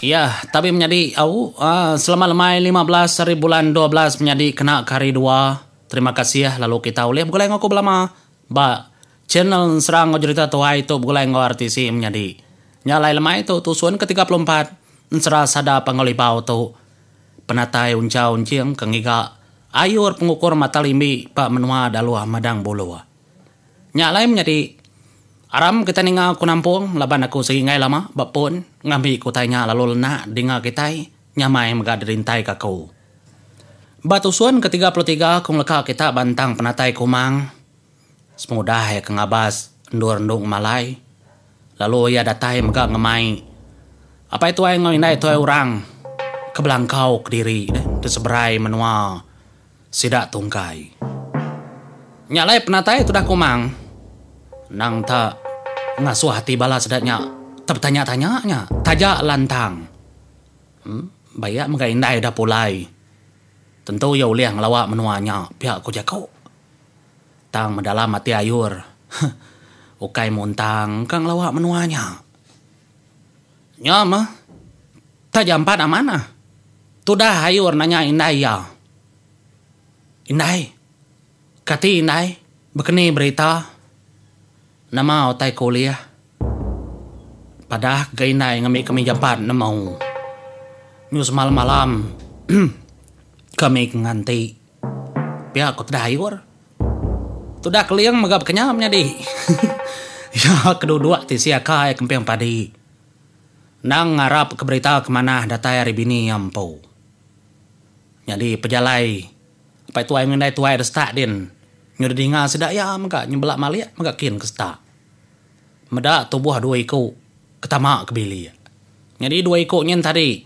Iya, tabi menyadi au selama lemai lima belas ari bulan dua belas menyadi kena ke hari dua. Terima kasih lalu kita ulih begulai enggau aku belama ba channel ensera enggau jerita tuai tu begulai enggau RTC menyadi. Nya alai lemai tu tusun ke tiga puluh empat ensera sada Panggau Libau tu penatai unchau enching ke ngiga ayur pengukur mata limbi ba menua Daluh Madang Buluh. Nya alai menyadi aram kitai ninga ku nampung laban aku sigi enggai lama ba pun ngambi ku utai nya lalu lenak dinga kitai nyamai mega dirintai ka aku. Ba tusun ke tiga puluh tiga aku ngeleka kita ba entang penatai kumang sepengudah iya ke ngabas endur endu ngemalai lalu iya datai mega ngemai apai tuai enggau indai tuai orang ke belangkau kediri diseberai menua. sida tungkai. Nya alai penatai tudah kumang. Endang ta ngasuh ati bala sida nya tebetanya-tanya nya taja lantang. Em, bai iya mega indai udah pulai. Tentu iya ulih ngelawa menua nya, pia ku jaku. Tang medalam ati ayur, huh, ukai muntang ka ngelawa menua nya. Nya meh, taja empat amanah. Tudah Ayur nanya indai iya, Indai, kati indai bekeni berita? Nama utai ke ulih? Padah ga indai ngambika mija empat nemu. Nyu semalam-malam kami ke nganti, pia ku Tudah Ayur. Tudah Keling mega bekenyau menyadi. Iya ke duduk ti sia kai kemping padi. Endang ngarap ke berita ke manah datai ari bini iya empu. Nyadi pejalai apai tuai enggau indai tuai destap din. Nyu didinga sida iya mega nyebelak malik mega kin ke setak. Meda tubuh dua iku ke tama ke bilik. Nyadi dua iku nyin tadi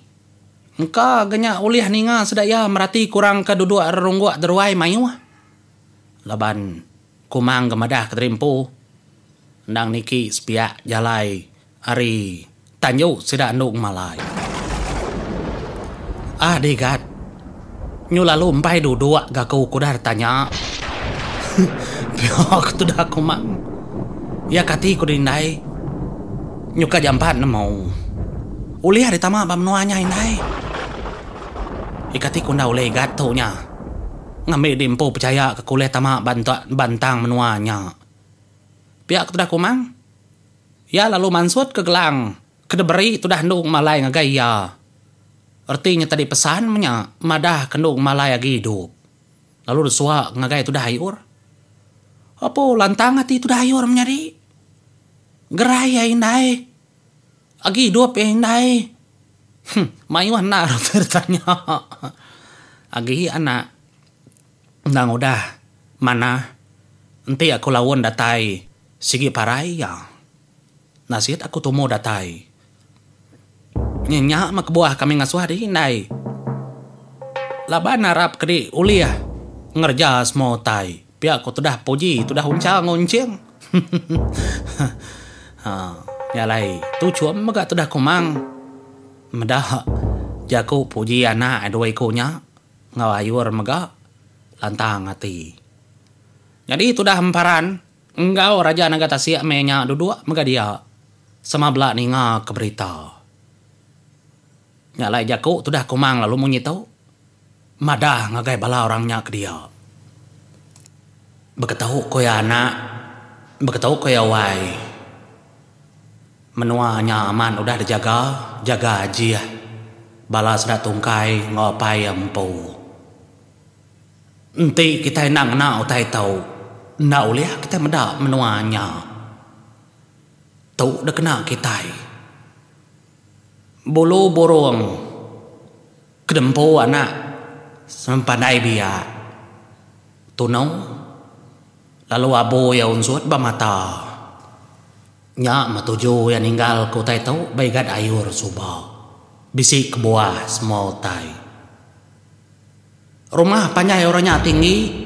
engka ga nya ulih ninga sida iya merati kurang ke duduk rerungguk deruai mayuh. Laban Kumang ga madah kediri empu endang niki sepiak jalai ari. Tanyu sida andu ngemalai. Ah dih gat. Nyu lalu embai duduk ga aku ku udah tanya. Pia ku tudah aku mang. Iya kati ku diri indai. Nyu ka jampat nemu. Ulih ari tama ba menua nya indai. Iya kati ku enda ulih gat tu nya. Ngambi di empu pechaya ka ku ulih tama ba entang menua nya. Pia ku tudah aku mang. Iya lalu mansut ke gelang ke diberi tudah endu malai ngagai iya. Reti nyetadi pesan menya madahka endu malai agi idup lalu disuak ngagai tudah Ayur. Apo lantang ati tudah Ayur menyadi. Gerai iya indai. Agi idup iya indai. Huh, mayuh anak reti ditanya. Agi anak. Endang udah manah enti aku laun datai sigi parai iya. Nasit aku tumu datai. Nya nya meh kebuah kami ngasuh diri indai laban arap ke diri ulih ngereja semua utai pia ku tudah Puji tudah Uncha enggau Enching. Hah nya alai tu chum mega tudah Kumang meda jaku Puji anak dua iku nya. enggau ayur mega lantang ati. Nyadi tudah emparan enggau Raja Naga Tasik meh nya duduk mega dia sama bela ninga ke berita. Nya alai jaku tudah kumang lalu munyi tu madah ngagai bala orang nya ke dia. Beketu ku iya anak, beketu ku iya wai. Menua nya amat udah dijaga, jaga ajih bala sida tungkai enggau apai iya empu. Enti kitai enda ngena utai tu, enda ulih kitai meda menua nya. Tu dikena kitai. Bulu burung ke diempu anak sempandai biak tunu lalu abu iya unsut ba mata. Nya meh tuju iya ninggal ke utai tu ba igat ayur suba. Bisi kebuah semua utai. Rumah panjai orang nya tinggi.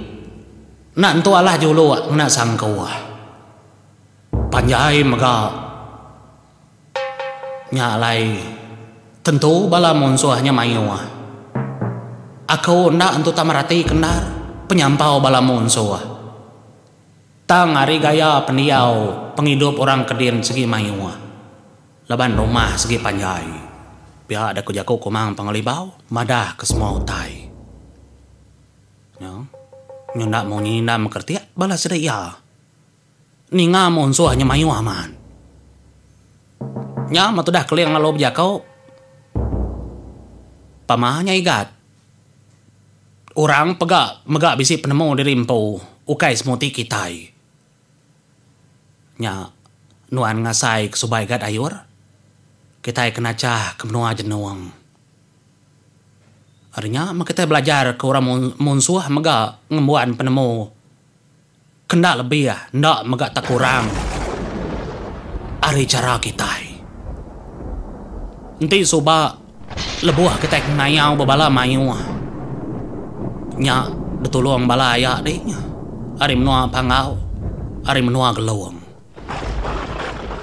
Enda entu alah juluk ngena sangkuh. Panjai mega. Nya alai tentu bala munsuh nya mayuh. Aku enda entu tak merati ke endar penyampau bala munsuh. Tang ari gaya pendiau pengidup orang Kedin segi mayuh laban rumah segi panjai, pia da ku jaku Kumang Pengelibau madah ke semua utai nya nyu enda munyi enda mekeritik bala sida iya ninga munsuh nya mayuh amat. Nya meh tudah Keling lalu bejaku pama nya igat Orang pega mega bisi penemu diri empu ukai semuti kitai. Nya nuan ngasai ke subai ga dayur kitai ke nachah ke menua jenung. Ari nya meh kitai belajar ke orang munsuh mega ngembuan penemu Kenda lebih enda mega tekurang ari chara kitai. Enti suba lebuh kitai ngayau ba bala mayuh nya betulung bala aya dih ari menua Panggau, ari menua Gelong.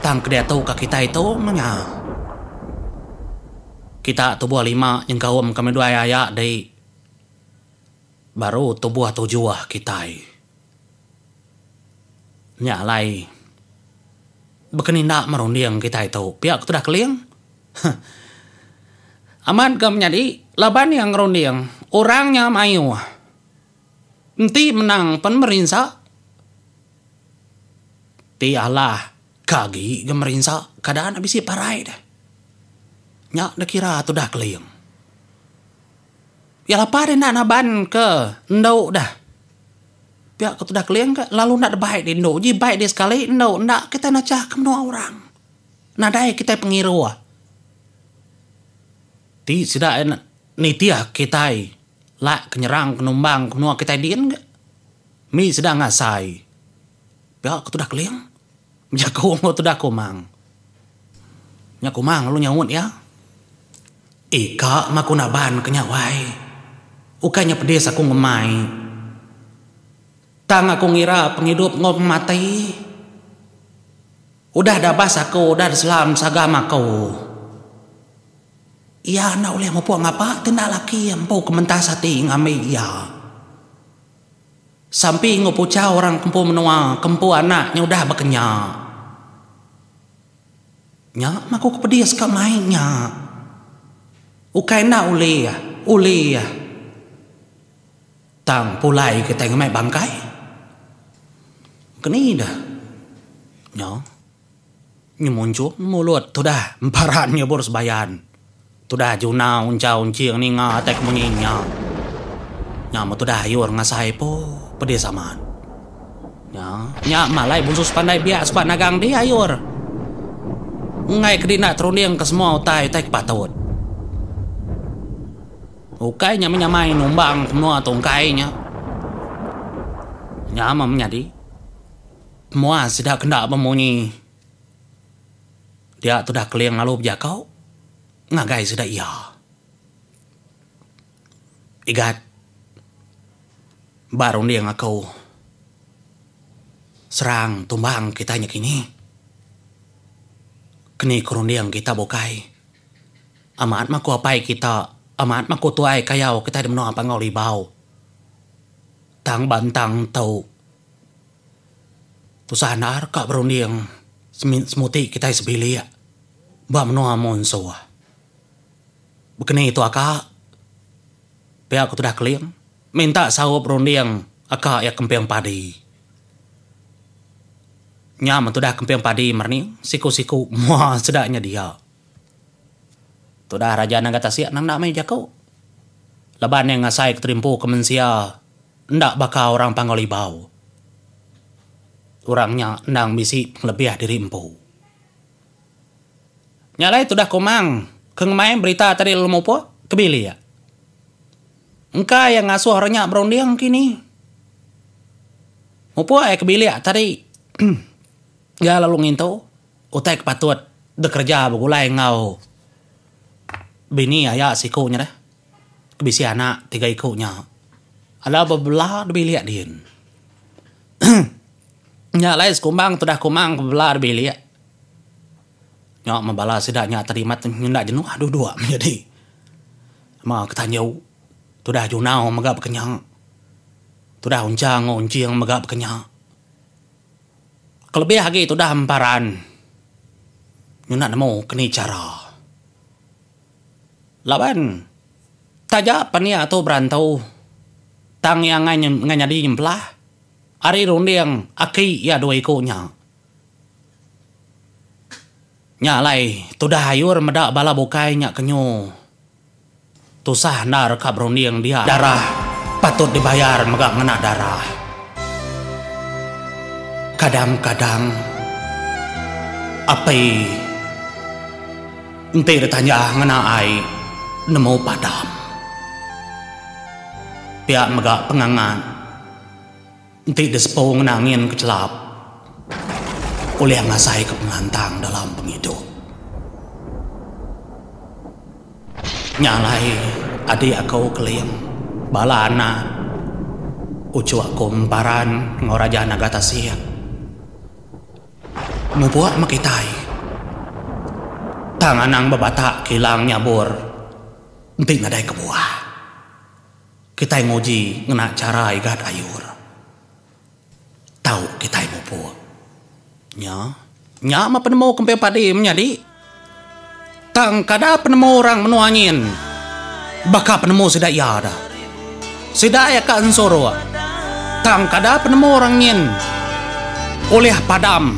Tang kediatu ka kitai tu meh nya kita tubuh lima nyengkaumka midwai aya dih Baru tubuh tujuh kitai nya alai bekeninda merunding kitai tu pia ke tudah keling. Huh. Amat ga menyadi laban iya ngerunding orang nya mayuh enti menang pen merinsa ti alah ke agi ga merinsa kada anak bisi parai deh. Nya dikira tudah keling. Pia lapa deh enda naban ke endu deh. Pia ku tudah Keling ke lalu enda deh baik deh endu. Ji baik deh sekali endu enda kitai nechah ke menua orang. Nadai kitai pengiruh. Ti sida ia nitih kitai lak ke nyerang ke numbang ke menua kitai din ke mih sida ngasai. Pia ke tudah Keling bejaku enggau tudah Kumang. Nya Kumang lalu nyaut iya. Ika maku naban ke nya wai. Ukai nya pedis aku ngemai. Tang aku ngira pengidup enggau pemati. Udah dabas aku udah diselam sagam aku. Iya enda ulih mupuk ngapa ti enda laki empu ke mentas ati ngambi iya. Sampi enggau puchau orang empu menua ke empu anak nya udah baka nya. Nya maku ke pedis ka mai nya. Ukai enda ulih, ulih. Tang pulai kitai ngemai bangkai. Ke ni dah. Nya. Nyemunchung mulut tudah emparan nyebur sebayan. Tudah Junau unchau enching ninga atai kemunyi nya. Nya meh tudah ayur ngasai po pedis amat. Nya, nya meh alai Bunsu Sepandai biak sukat nagang dih ayur. Enggai kedi enda terundingka semua utai, utai ke patut. Ukai nya meh nyamai numbang ke menua tungkai nya. Nya meh menyadi. Muah sida kenda bemunyi dia tudah Keling lalu bejaku ngagai sida iya. Igat ba runding aku serang tumbang kitai nakini. Keni ku runding kita bukai amat maku apai kita amat maku tuai kayau kita di menua Panggau Libau tang bantang tu. Tusah endar ka berunding semuti kitai sebilik ba menua Monsoh. Bekeni tu aka pia ku tudah Kelin minta saup runding aka iya kemping padi. Nya men tudah kemping padi merening siku-siku mua sida nya dia. Tudah Raja Naga Tasik nang enda meh jaku. Laban iya ngasai ke terimpu ke mensia enda baka orang Panggau Libau. Orang nya endang bisi pengelebih diri empu. Nya alai tudah Komang ke ngemai berita tadi lalu mupuk ke bilik. Engka iya ngasuh orang nya berunding kini. Mupuk iya ke bilik tadi iya lalu ngintu. Utai ke patut dikereja begulai enggau bini aya siku nya deh ke bisi anak tiga iku nya adalah bebela da bilik din. Nya alai sekumbang tudah kumang bebela da bilik nyau meh bala sida nya tadi amat nyenda jenuh dua dua meh nyadi ma ke tanju tudah junau mega baka nya tudah unchang enggau unching mega baka nya. Kelebih agi tudah emparan nyunak nemu keni chara laban taja pan iya tu berantu tang iya angai angai nyadi nyempelah ari runding aki iya dua iku nya. Nya alai, tudah ayur meda bala bukai nya kenyu. Tusah enda reka berunding dia. Darah patut dibayar mega ngena darah. Kadang-kadang, api enti ditanja ngena ai nemu padam. Pia mega pengangat. Enti disepung enda angin ke chelap ulih ngasai ke pengantang dalam pengidup. Nya alai adik aku Keling, bala anak, uchu aku Emparan enggau Raja Naga Tasik mupuk meh kitai. Tang anang bebatak kilang nyabur enti nadai kebuah. Kitai nguji ngena chara Igat Ayur. Tau kitai mupuk. Nya, nya meh penemu kemping padi menyadi. Tang kada penemu orang menua nyin baka penemu sida iya da. Sida iya ka ensuruk. Tang kada penemu orang nyin ulih padam.